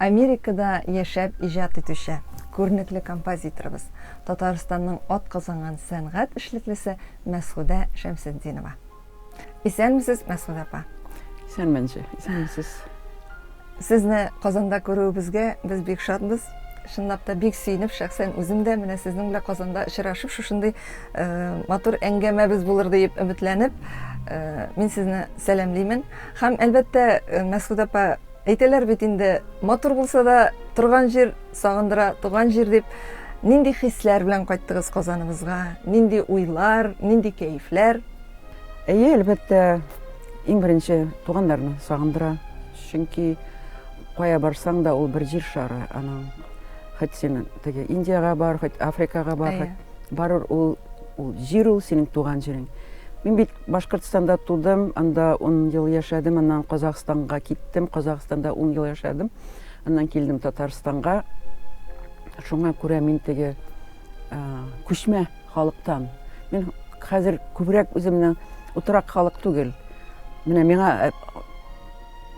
Америкада яшәп иҗат итүче, күренекле композиторыбыз, Татарстанның атказанган сәнгать эшлеклесе Мәсгудә Шәмсетдинова. Исәнмесез, Мәсгудә апа! Исәнмен, җи, исәнмесез! Сезне Казанда күрүебезгә без бик шатбыз. Чынлап та бик сөенеп, шәхсән үзем дә менә сезнең белән Казанда очрашып, шушындый матур әңгәмәбез булыр диеп өметләнеп, мин сезне сәламлимен. Һәм, әлбәттә, Мәсгудә апа, Әйтәләр бит инде, матур булса да, торган җир сагындыра, туган җир дип. Нинди хисләр белән кайттыгыз Казаныбызга? Нинди уйлар, нинди кәефләр? Әйе, әлбәттә, иң беренче туганнарны сагындыра. Чөнки кая барсаң да, ул бер җир шары аның. Хоть син теге Индиягә бар, хоть Африкага бар, барыр ул Ул җир ул, синең туган җирең. Мин бит Башкортстанда тудым, анда ун ел яшәдем, аннан Казахстанга киттем, Казахстанда ун ел яшәдем, аннан килдем Татарстанга. Шуңа күрә мин теге күчмә халыктан. Мин хәзер күбрәк үземнең утырак халык түгел. Менә миңа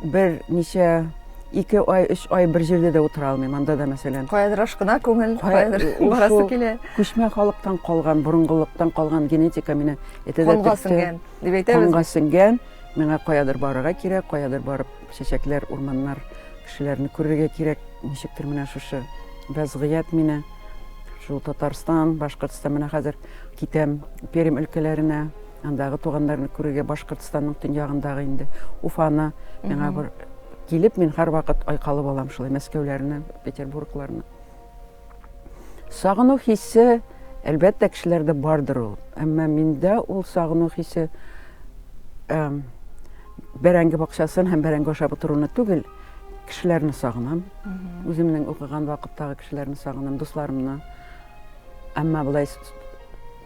Бер ничә ике ай, өч ай бер җирдә дә утыра алмыйм, анда да мәсәлән. Каядыр ашкына күңел, каядыр барасы килә. Күчмә халыктан калган, борынгылыктан калган генетика мине әтәдә Канга сеңгән, дип әйтәбез. Канга сеңгән, миңа каядыр барырга кирәк, каядыр барып чәчәкләр, урманнар, кешеләрне күрергә кирәк. Ничектер менә шушы вәзгыять мине шул Татарстан, Башкортстан менә хәзер китәм Пермь өлкәләренә. Андагы туганнарны күрергә Башкортстанның төньягындагы инде Уфаны миңа бер килеп, мин һәрвакыт айкалып алам шулай Мәскәүләрне, Петербургларны. Сагыну хисе, әлбәттә, кешеләрдә бардыр ул. Әмма миндә ул сагыну хисе бәрәңге бакчасын һәм бәрәңге ашап утыруны түгел, кешеләрне сагынам. Үземнең укыган вакыттагы кешеләрне сагынам, дусларымны. Әмма болай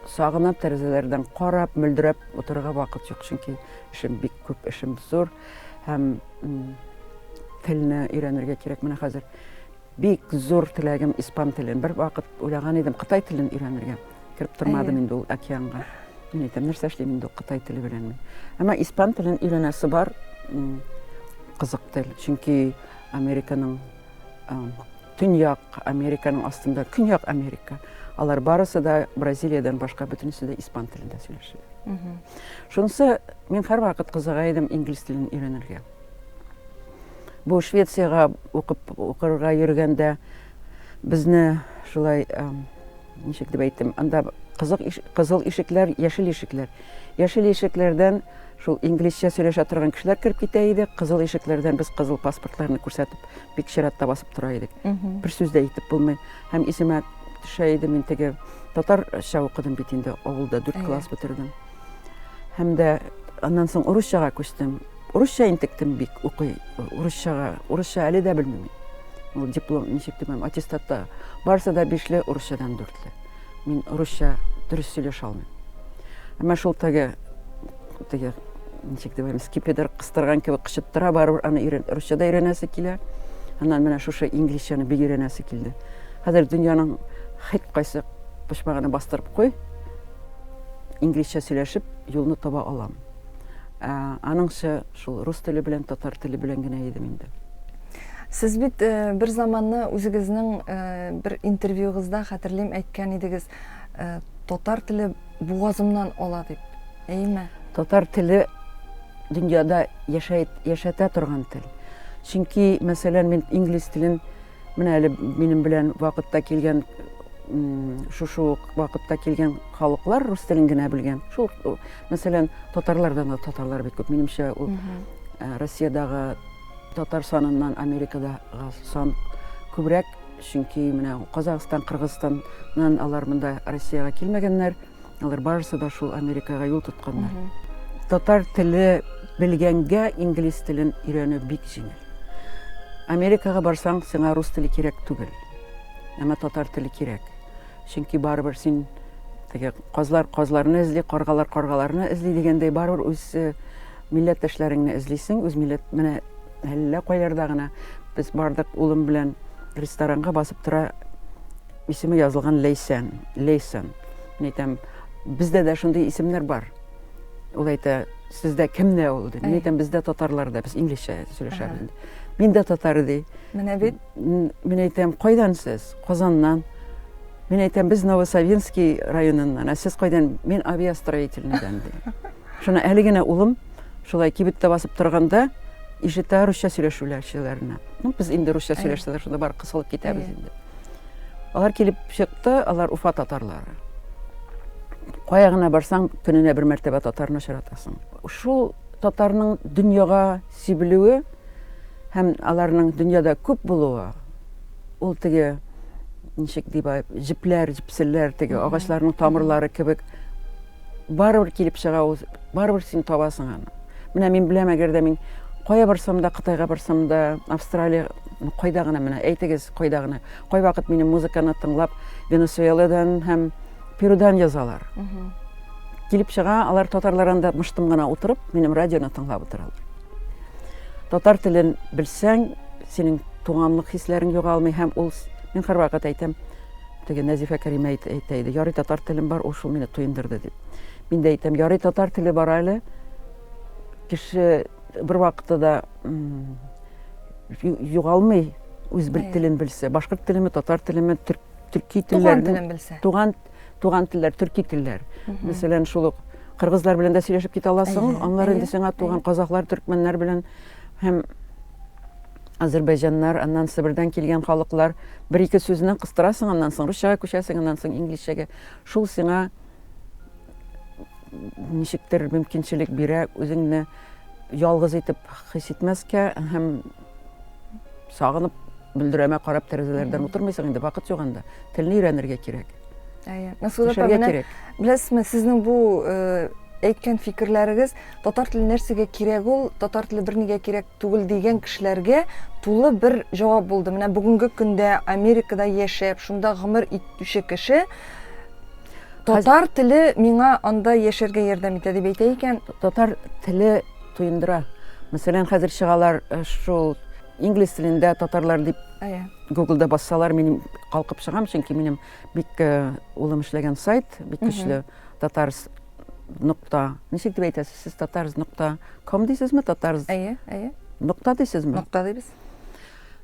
Сагынам тәрәзәләрдән карап, мөлдерәп утырырга вакыт юк, чөнки эшем бик күп, эшем зур һәм телне өйрәнергә кирәк. Менә хәзер бик зур теләгем испан телен. Бер вакыт уйлаган идем Кытай телен өйрәнергә. Кереп тормадым инде ул океанга. Мин әйтәм, нәрсә эшлим инде Кытай теле белән мин. Әмма испан телен өйрәнәсе бар. Кызык тел, чөнки Американың Төньяк Американың астында, Көньяк Америка. Алар барысы да Бразилиядән башка бөтенесе дә испан телендә сөйләшәләр. Шунысы мин һәрвакыт кызыга идем инглиз телен өйрәнергә. Бу Швециягә укып укырга йөргәндә безне шулай ничек дип әйтим, анда кызыл ишекләр, яшел ишекләр. Яшел ишекләрдән шул инглизчә сөйләшә торган кешеләр кереп китә иде, кызыл ишекләрдән без кызыл паспортларны күрсәтеп, бик чиратта басып тора идек. Бер сүз дә әйтеп булмый. Һәм исемә төшә иде, мин теге татарча укыдым бит инде авылда, дүрт класс бетердем. Һәм дә аннан соң урысчага күчтем. Урысча интектем бик укый, урысчага, урысча әле дә белмим. Ул диплом ничек дип, аттестатта барысы да бишле, урысчадан дүртле. Мин русча дөрес сөйләшә алмыйм. Әмма шул теге теге ничек дип әйтәм, скипидер кыстырган кебек кычыттыра, барыбер аны өйрән, русча да өйрәнәсе килә. Аннан менә шушы инглизчәне бик өйрәнәсе килде. Хәзер дөньяның һәр кайсы почмагына бастырып куй, инглизчә сөйләшеп юлны таба алам. Ә, аныңча шул рус теле белән татар теле белән генә идем инде. Сез бит э, бер заманны үзегезнең э, бер интервьюгызда хәтерлим әйткән идегез, э, татар теле бугазымнан ала дип. Әйме? Татар теле дөньяда яшәй, яшәтә торган тел. Чөнки, мәсәлән, мин инглиз телен менә әле минем белән вакытта килгән шушы ук вакытта килгән халыклар рус телен генә белгән. Шул, мәсәлән, татарлардан да татарлар бит күп. Минемчә, ул Россиядагы Татар саныннан Америкада сан күбрәк, чөнки менә Казахстан, Кыргызстаннан алар монда Россиягә килмәгәннәр. Алар барысы да шул Америкага юл тотканнар. Татар теле белгәнгә инглиз телен өйрәнү бик җиңел. Америкага барсаң, сиңа рус теле кирәк түгел. Әмма татар теле кирәк. Чөнки барыбер син теге казлар казларны эзли, каргалар каргаларны эзли дигәндәй барыбер үз э, Милләттәшләреңне эзлисең, үз милләт менә әллә кайларда гына без бардык улым белән ресторанга басып тора исеме язылган Лейсен, Лейсен. Мин әйтәм, бездә дә шундый исемнәр бар. Ул әйтә, сездә кемдә ул ди. Мин әйтәм, бездә татарларда, без инглизчә сөйләшәбез. Мин дә татар ди. Менә бит. Мин әйтәм, кайдан сез? Казаннан. Мин әйтәм, без Новосавинский районыннан, ә сез кайдан? Мин авиастроительныйдан, ди. Шуны әле генә улым шулай кибеттә басып торганда ишетә русча сөйләшүләрчеләрне. Ну, без инде русча сөйләшсәләр, шунда бар кысылып китәбез инде. Алар килеп чыкты, алар Уфа татарлары. Кая гына барсаң, көненә бер мәртәбә татарны очратасың. Шул татарның дөньяга сибелүе һәм аларның дөньяда күп булуы Ул теге ничек дип җепләр, җепселләр теге агачларның тамырлары кебек барыбер килеп чыга ул, барыбер син табасың аны. Менә мин беләм, әгәр дә мин кая барсам да, Кытайга барсам да, Австралия, ну, кайда гына менә, әйтегез, кайда гына. Кай вакыт минем музыканы тыңлап, Венесуэладан һәм Перудан язалар. Килеп чыга, алар татарлар анда мыштым гына утырып, минем радионы тыңлап утыралар. Татар телен белсәң, синең туганлык хисләрең югалмый һәм ул мин һәрвакыт әйтәм, теге Нәзифә Кәримә әйтә иде, ярый татар телем бар, ул шул мине туендырды дип. Мин дә әйтәм, ярый татар теле бар әле. Кеше бер вакытта да югалмый үз бер телен белсә, башкорт телеме, татар телеме, төрки телләрен, туган телен белсә. Туган туган телләр, төрки телләр. Мәсәлән, шул ук кыргызлар белән дә сөйләшеп китә аласың, аннары инде сиңа туган казахлар, төркмәннәр белән һәм азербайҗаннар, аннан Себердән килгән халыклар бер ике сүзне кыстырасың, аннан соң русчага күчәсең, аннан соң инглизчәгә. Шул сиңа ничектер мөмкинчелек бирә үзеңне ялгыз итеп хис итмәскә һәм сагынып мөлдерәмә карап тәрәзәләрдән утырмыйсың инде вакыт юк анда телне өйрәнергә кирәк әйе мәсгудә апа менә беләсезме сезнең бу э, әйткән фикерләрегез татар теле нәрсәгә кирәк ул татар теле бернигә кирәк түгел дигән кешеләргә тулы бер җавап булды менә бүгенге көндә америкада яшәп шунда гомер итүче кеше татар теле миңа анда яшәргә ярдәм итә дип әйтә икән татар теле Тоендыра. Мәсәлән, хәзер чыгалар э, шул инглиз телендә татарлар дип иә. гуглда бассалар мин калкып чыгам чөнки минем бик э, улым эшләгән сайт бик көчле татарс нокта ничек дип әйтәсез сез татарс нокта ком дисезме татарс әйе әйе нокта дисезме нокта дибез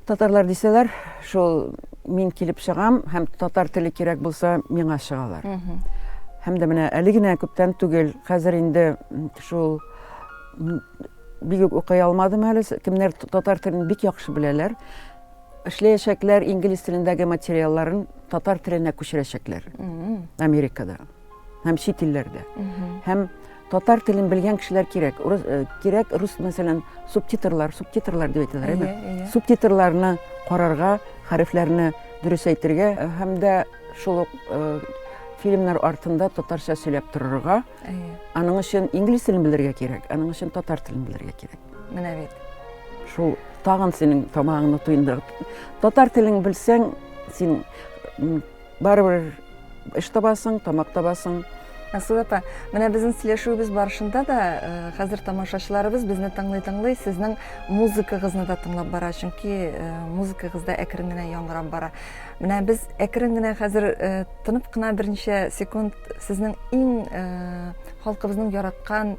Татарлар дисәләр, шул мин килеп чыгам һәм татар теле кирәк булса, миңа чыгалар. Һәм дә менә әле генә күптән түгел, хәзер инде шул бик үк укый алмадым әле, кемнәр татар телен бик яхшы беләләр, эшләячәкләр инглиз телендәге материалларын татар теленә күчерәчәкләр Америкада. һәм чит илләрдә. Һәм татар телен белгән кешеләр кирәк. Урыс э, кирәк рус мәсәлән субтитрлар, субтитрлар дип әйтәләр, әйме? Иә, иә. Субтитрларны карарга, хәрефләрне дөрес әйтергә э, һәм дә шул ук э, фильмнар артында татарча сөйләп торырга. Әйе. Аның өчен инглиз телен белергә кирәк, аның өчен татар телен белергә кирәк. Менә бит. Шул тагын синең тамагыңны туендырып. Татар телен белсәң, син Барыбер эш табасың, тамак табасың. Асыл апа, менә безнең сөйләшүебез барышында да э, хәзер тамашачыларыбыз безне тыңлый-тыңлый сезнең музыкагызны да тыңлап бара, чөнки э, музыкагыз да әкрен генә яңгырап бара. Менә без әкрен генә хәзер э, тынып кына берничә секунд сезнең иң халкыбызның яраткан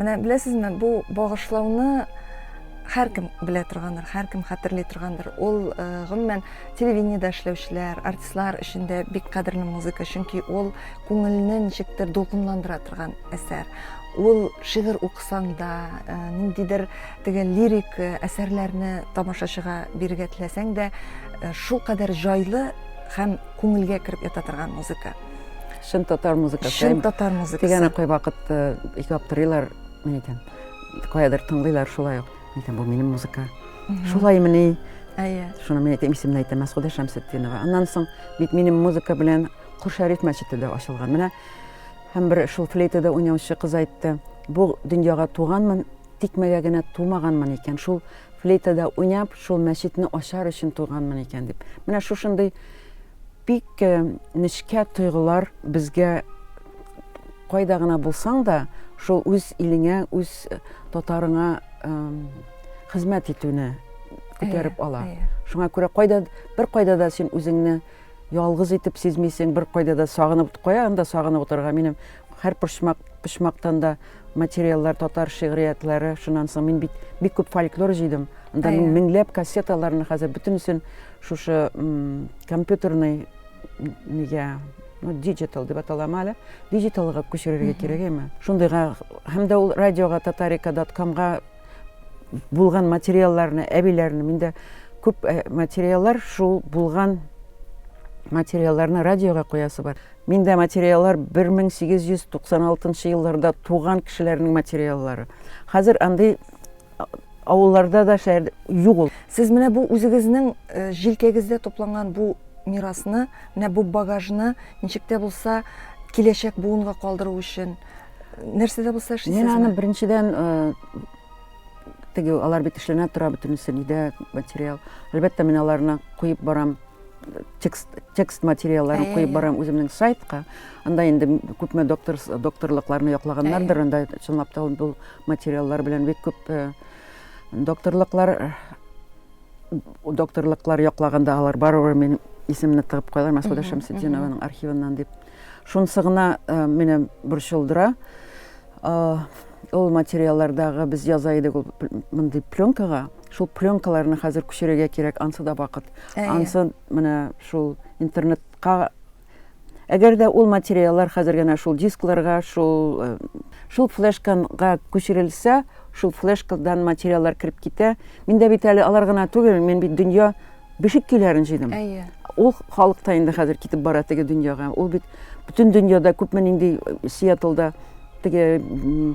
Менә беләсезме, бу багышлауны һәркем белә торгандыр, һәркем хәтерли торгандыр. Ул э, гомумән телевидениедә эшләүчеләр, артистлар өчен дә бик кадерле музыка, чөнки ул күңелне ничектер дулкынландыра торган әсәр. Ул шигырь укысаң да, э, ниндидер Теге лирик э, әсәрләрне тамашачыга бирергә теләсәң дә, э, шулкадәр җайлы һәм күңелгә кереп ята торган музыка. Чын татар музыкасы. Чын татар музыкасы. Дигән кай вакыт э, иҗат тырыйлар, мин әйтәм, каядыр тыңлыйлар шулай ук. Мин әйтәм, бу минем музыка. Шулай мени. Әйе. Шуны мин әйтәм, исемне әйтәм, Мәсхүдә Шәмсетдинова. Аннан соң бит минем музыка белән Хур Шәриф мәчете дә ачылган. Менә һәм бер шул флейтада уйнаучы кыз әйтте, бу дөньяга туганмын, Тикмәгә генә тумаганмын икән, шул флейтада уйнап, шул мәчетне ачар өчен туганмын икән дип. Менә шушындый бик э, нечкә тойгылар безгә кайда гына булсаң да, шул үз илеңә, үз э, татарыңа хезмәт итүне күтәреп ала. Шуңа күрә кайда бер кайда да син үзеңне ялгыз итеп сизмисең, бер кайда да сагынып кая анда сагынып утырырга. Минем Һәр почмак, почмактан да материаллар, татар шигъриятләре. Шуннан соң мин бит бик күп фольклор җыйдым. Анда мин меңләп кассеталарны хәзер бөтенесен шушы компьютерный нигә ну, диджитал дип аталамы әле диджиталга күчерергә кирәк әйме шундыйга һәм дә ул радиога татарика дат комга булган материалларны әбиләрне миндә күп материаллар шул булган материалларны радиога куясы бар Миндә материаллар 1896 нчы елларда туган кешеләрнең материаллары. Хәзер андый авылларда да шәһәр юк ул. Сез менә бу үзегезнең э, җилкәгездә тупланган бу мирасны, менә бу багажны ничек тә булса киләчәк буынга калдыру өчен нәрсә дә булса эшлисезме? Мин аны беренчедән э, теге алар бит эшләнә тора бөтенесе нидә материал. Әлбәттә, мин аларны куеп барам. текст, текст материалларын куеп барам үземнең сайтка анда инде күпме доктор докторлыкларны яклаганнардыр анда чынлап та бу материаллар белән бик күп э, докторлыклар э, докторлыклар яклаганда алар барыбер мин исемне тыгып куялар мәсгүдә шәмсетдинованың архивыннан дип шунысы гына э, мине борчылдыра Ул материаллардагы без яза идек ул мондый пленкага. Шул пленкаларны хәзер күчерергә кирәк, ансы да вакыт. Ансы менә шул интернетка Әгәр дә ул материаллар хәзер генә шул дискларга, шул э, шул флешкага күчерелсә, шул флешкадан материаллар кереп китә. Миндә бит әле алар гына түгел, мин бит дөнья бишек көйләрен җыйдым. Әйе. Ул халык та инде хәзер китеп бара теге дөньяга. Ул бит бөтен дөньяда күпме нинди э, Сиэтлда теге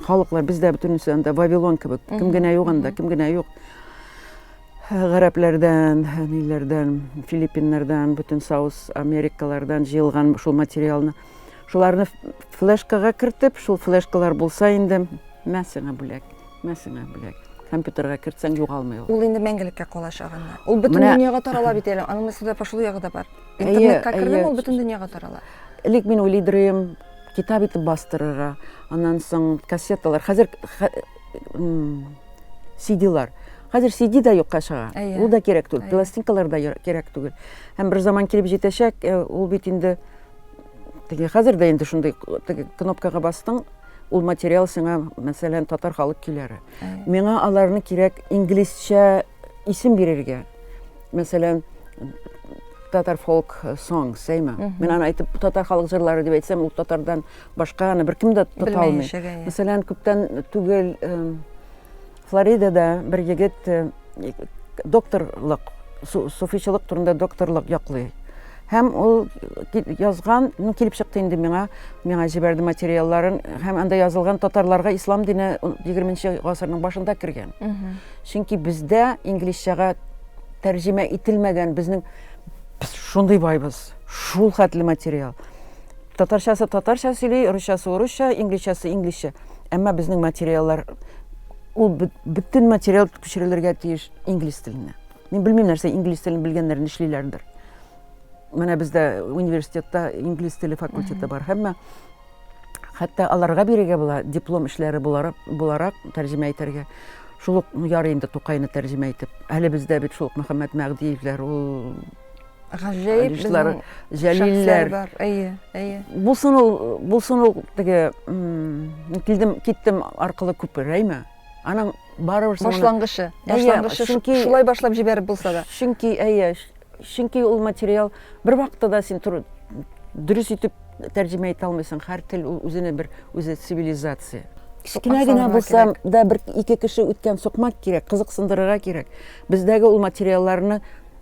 халыклар бездә бөтенесе анда Вавилон кебек. Кем генә юк анда, кем генә юк. Э, гарәпләрдән, э, ниләрдән, Филиппиннардан, бөтен Саус Америкалардан җыелган шул материалны. Шуларны флешкага кертеп, шул флешкалар булса инде мәсәңә бүләк. Мә сиңа бүләк. Компьютерга кертсәң, югалмый ул. Ул инде мәңгелеккә калачак анда. Ул бөтен Менә... дөньяга тарала бит әле. Аның сюда пошло ягы да бар. Интернетка кердем, ул бөтен дөньяга тарала. Элек мин уйлыйдырым, китап итеп бастырырга. Аннан соң кассеталар. Хәзер CD-лар. Хәзер CD да юкка чыга. Ул да кирәк түгел. Пластинкалар да кирәк түгел. Һәм бер заман килеп җитәчәк, ул бит инде теге хәзер дә инде шундый теге кнопкага бастың, Ул материал сиңа, мәсәлән, татар халык көйләре. Миңа аларны кирәк инглизчә исем бирергә. Мәсәлән, татар фолк сонг, сәймә. Мин аны әйтеп, татар халык җырлары дип әйтсәм, ул татардан башка аны беркем дә тота алмый. Мәсәлән, күптән түгел Флоридада бер егет э, докторлык, суфичылык турында докторлык яклый. Һәм ул язган, ну, килеп чыкты инде миңа, миңа җибәрде материалларын, һәм анда язылган татарларга ислам дине 20 гасырның башында кергән. Чөнки бездә инглизчәгә тәрҗемә ителмәгән безнең без шундый байбыз, шул хәтле материал. Татарчасы татарча сөйли, русчасы урысча, инглизчасы инглизчә. Әмма безнең материаллар ул бөтен материал күчерелергә тиеш инглиз теленә. Мин белмим нәрсә инглиз телен белгәннәр нишлиләрдер. Менә бездә университетта инглиз теле факультеты бар. Әмма хәтта аларга бирергә була диплом эшләре буларак, буларак тәрҗемә итәргә. Шул ук ярый инде Тукайны тәрҗемә итеп. Әле бездә бит шул ук Мөхәммәд Мәгъдиевләр, ул Гаҗәеп Алишлар, Җәлилләр. Бар. Әйе, әйе. Булсын ул, булсын ул теге килдем, киттем аркылы күп рәймә. Аның барыбер башлангычы, башлангычы чөнки шулай башлап җибәреп булса да. Чөнки әйе, чөнки ул материал бер вакытта да син туры дөрес итеп тәрҗемә итә алмыйсың. Һәр тел ул үзенә бер үзе цивилизация. Кечкенә генә булса да бер ике кеше үткән сукмак кирәк, кызыксындырырга кирәк. Бездәге ул материалларны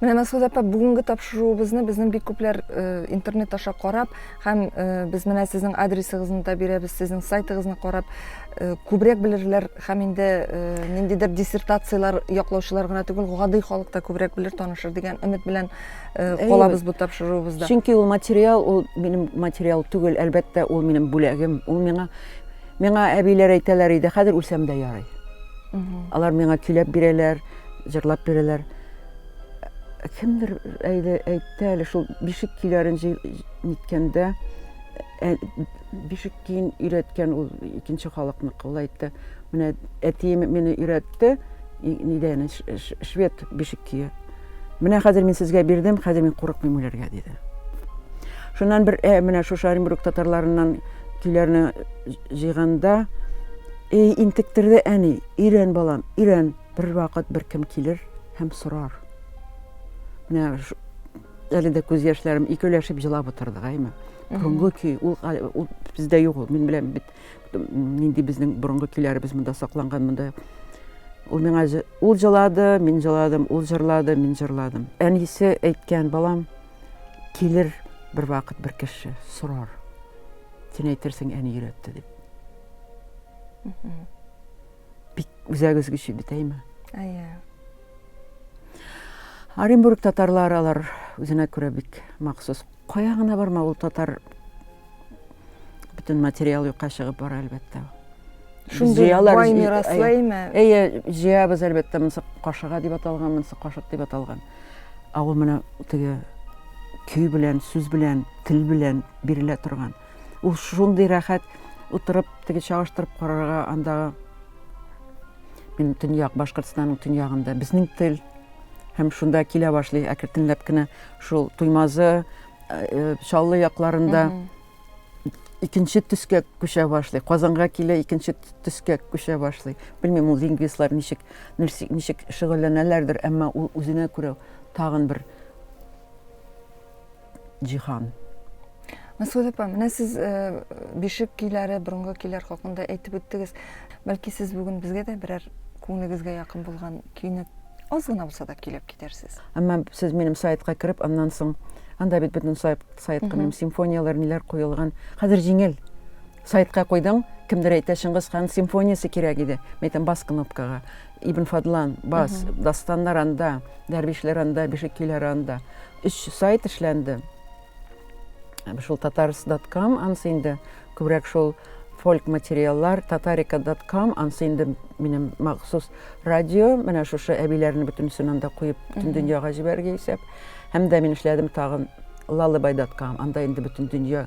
Менә Мәскәүдә апа бүгенге тапшыруыбызны безнең бик күпләр э, интернет аша карап һәм э, без менә сезнең адресыгызны да бирәбез, сезнең сайтыгызны карап э, күбрәк белерләр һәм инде ниндидер диссертацияләр яклаучылар гына түгел, гади халык та күбрәк белер, танышыр дигән өмет белән калабыз бу тапшыруыбызда. Чөнки ул материал, ул минем материал түгел, әлбәттә, ул минем бүләгем. Ул миңа миңа әбиләр әйтәләр иде, хәзер үлсәм дә ярый. Алар миңа көйләп бирәләр. җырлап бирәләр. Кемдер әйде, әйтте әле шул бишек көйләрен ниткәндә, ә, бишек көен өйрәткән ул икенче халыкныкы. Ул әйтте, менә әтием мине өйрәтте, нидән, швед бишек көе. Менә хәзер мин сезгә бирдем, хәзер мин курыкмыйм үләргә, диде. Шуннан бер ә, менә шушы Оренбург татарларыннан көйләрне җыйганда, ей интектерде әни, өйрән балам, өйрән. Бервакыт беркем килер һәм сорар. Менә әле дә күз яшьләрем икеләшеп җылап утырдык, әйме? Борынгы көй, ул, ул бездә юк ул. Мин беләм бит, нинди безнең борынгы көйләребез монда сакланган, монда Ул миңа ул җылады, мин җыладым, ул җырлады, мин җырладым. Әнисе әйткән балам килер бер вакыт бер кеше сорар. Син әйтерсең әни өйрәтте дип. бик үзәк өзгече бит әйме әйе оренбург татарлары алар үзенә күрә бик махсус кая гына барма ул татар бөтен материал юкка чыгып бара әлбәттә шундый бай мираслы әйме әйе җыябыз әлбәттә монысы кашыга дип аталган монысы кашык дип аталган ә ул менә теге көй белән сүз белән тел белән бирелә торган Ул шундый рәхәт утырып, теге чагыштырып карарга андагы мин төньяк Башкортстанның төньягында безнең тел һәм шунда килә башлый әкертенләп кенә шул Туймазы, э, э, Чаллы якларында икенче төскә күчә башлый. Казанга килә икенче төскә күчә башлый. Белмим, ул лингвистлар ничек ничек шөгыльләнәләрдер, әмма ул үзенә күрә тагын бер җиһан. Мәсгуд апа, менә сез э, бишек көйләре, борынгы көйләр хакында әйтеп үттегез. Бәлки сез бүген безгә дә берәр күңелегезгә якын булган көйне аз гына булса да көйләп китәрсез. Әмма сез минем сайтка кереп, аннан соң анда бит бөтен сайтка минем симфонияләр, ниләр куелган. Хәзер җиңел. Сайтка куйдым, кемдер әйтә, Чыңгыз хан симфониясе кирәк иде. Мин әйтәм, бас кнопкага. Ибн Фадлан, бас, дастаннар анда, дәрвишләр анда, бишек көйләре анда. Өч сайт эшләнде. Шул татарс.com, анысы инде күбрәк шул фольк материаллар, татарика.com, анысы инде минем махсус радио, менә шушы әбиләрне бөтенесен анда куеп, бөтен дөньяга җибәрергә исәп. Һәм дә мин эшләдем тагын лалыбай.com, анда инде бөтен дөнья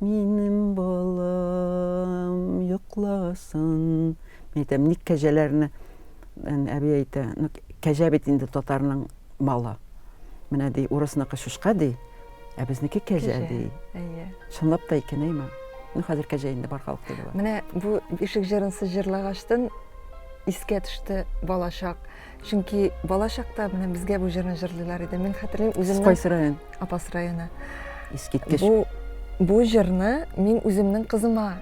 Минем балам йокласын. Мин әйтәм, ник кәҗәләрне, әби әйтә, ну, кәҗә бит инде татарның малы. Менә ди, урысныкы шушка ди, ә безнеке кәҗә ди. Әйе. Чынлап та икән, әйме? Ну, хәзер кәҗә инде бар халык теле бар. Менә бу ишек җырын сез җырлагачтын искә төште балачак. Чөнки бала чакта менә безгә бу җырны җырлыйлар иде. Мин хәтерлим үземнең Кайсы район? Апас районы. Искиткеч. Бу бу җырны мин үземнең кызыма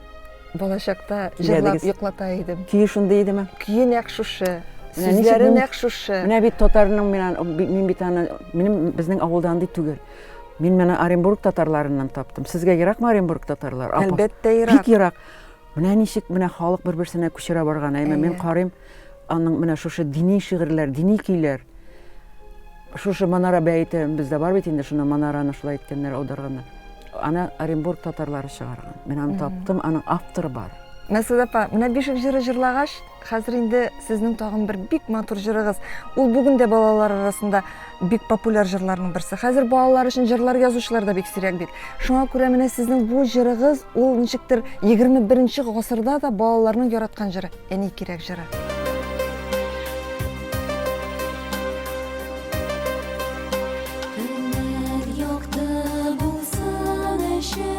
бала чакта җырлап йоклата идем. Көе шундый идеме? Көе нәкъ шушы. Сүзләре нәкъ шушы. Менә бит татарның мин мин бит аны минем безнең авылда андый түгел. Мин менә Оренбург татарларыннан таптым. Сезгә еракмы Оренбург татарлар? Әлбәттә ерак. Бик ерак. Менә ничек менә халык бер-берсенә күчерә барган, әйме, мин карыйм, аның менә шушы дини шигырьләр, дини көйләр. Шушы Манара бәете бездә бар бит инде, шуны Манараны шулай иткәннәр, аударганнар. Аны Оренбург татарлары чыгарган. Мин аны таптым, аның авторы бар. Мәсәлән, менә бишек җыры җырлагач, Хәзер инде сезнең тагын бер бик матур җырыгыз. Ул бүген дә балалар арасында бик популяр җырларның берсе. Хәзер балалар өчен җырлар язучылар да бик сирәк бит. Шуңа күрә менә сезнең бу җырыгыз, ул ничектер 21 гасырда да балаларның яраткан җыры, Әни кирәк җыры. Көннәр якты булсын өчен.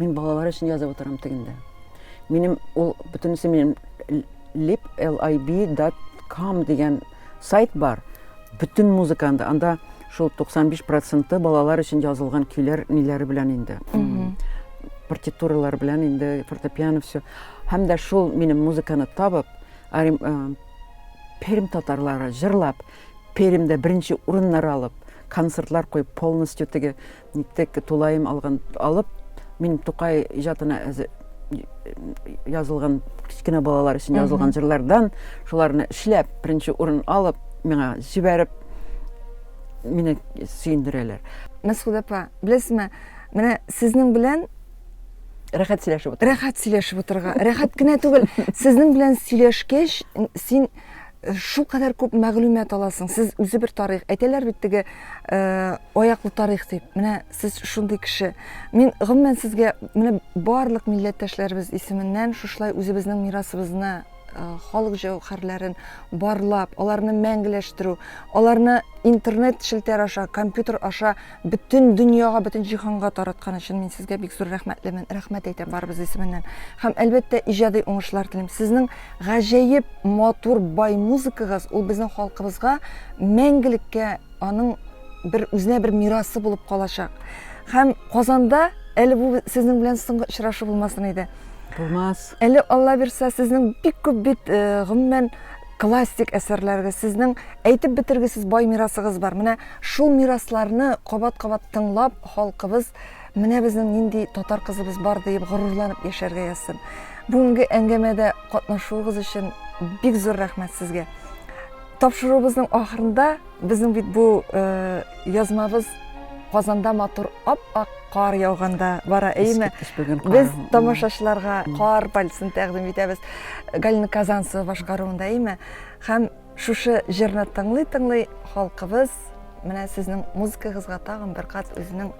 Мин балалар өчен язып утырам тегендә. Минем ул бөтенесе минем liplib.com дигән сайт бар. Бүтін музыка анда. Анда шул 95% балалар өчен язылган көйләр ниләре белән инде. Партитуралар белән инде, фортепиано все. Һәм дә шул минем музыканы табып, Пермь татарлары җырлап, Пермьдә беренче урыннар алып, концертлар куеп, полностью теге ниттек тулаем алган алып, мин Тукай иҗатына язылган кечкенә балалар өчен язылган җырлардан шуларны эшләп, беренче урын алып, миңа җибәреп, мине сөендерәләр. Мәсгудә апа, беләсезме, менә сезнең белән Рәхәт сөйләшеп утырга. Рәхәт сөйләшеп утырга. Рәхәт кенә түгел, сезнең белән сөйләшкәч, син э, шул кадәр күп мәгълүмат аласың. Сез үзе бер тарих. Әйтәләр бит теге э, аяклы тарих дип. Менә сез шундый кеше. Мин гомумән сезгә менә барлык милләттәшләребез исеменнән шушылай үзебезнең мирасыбызны Э, халык җәүһәрләрен барлап аларны мәңгеләштерү аларны интернет челтәр аша компьютер аша бөтен дөньяга, бөтен җиһанга тараткан өчен мин сезгә бик зур рәхмәтлемен. Рәхмәт әйтәм барыбыз исеменнән. Һәм әлбәттә иҗади уңышлар телим. Сезнең гаҗәеп матур бай музыкагыз ул безнең халкыбызга мәңгелеккә аның бер үзенә бер мирасы булып калачак. Һәм Казанда әле бу сезнең белән соңгы очрашу булмасын иде. Булмас. Әле Алла бирса, сезнең бик күп бит э, гомумән Классик әсәрләрегез, сезнең әйтеп бетергесез бай мирасыгыз бар. Менә шул мирасларны кабат-кабат тыңлап, халкыбыз менә безнең нинди татар кызыбыз бар диеп горурланып яшәргә язсын. Бүгенге әңгәмәдә катнашуыгыз өчен бик зур рәхмәт сезгә. Тапшыруыбызның ахырында Безнең бит бу язмабыз Казанда матур ап-ак кар яуганда бара, әйеме? Без тамашачыларга кар пальцын тәкъдим итәбез. Галина Казанцева башкаруында, әйеме? Һәм шушы җырны тыңлый-тыңлый халкыбыз менә сезнең музыкагызга тагын бер кат үзенең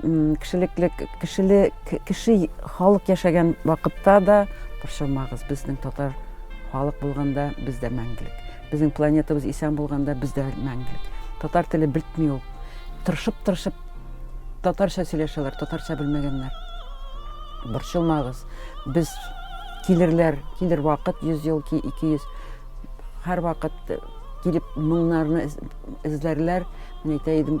кешелекле кешеле кеше халык яшәгән вакытта да борчылмагыз безнең татар халык булганда без дә мәңгелек безнең планетабыз исән булганда без дә мәңгелек татар теле бетми ул тырышып тырышып татарча сөйләшәләр татарча белмәгәннәр борчылмагыз без килерләр килер вакыт йөз ел ки ике йөз һәрвакыт килеп моңнарны эзләрләр мин әйтә идем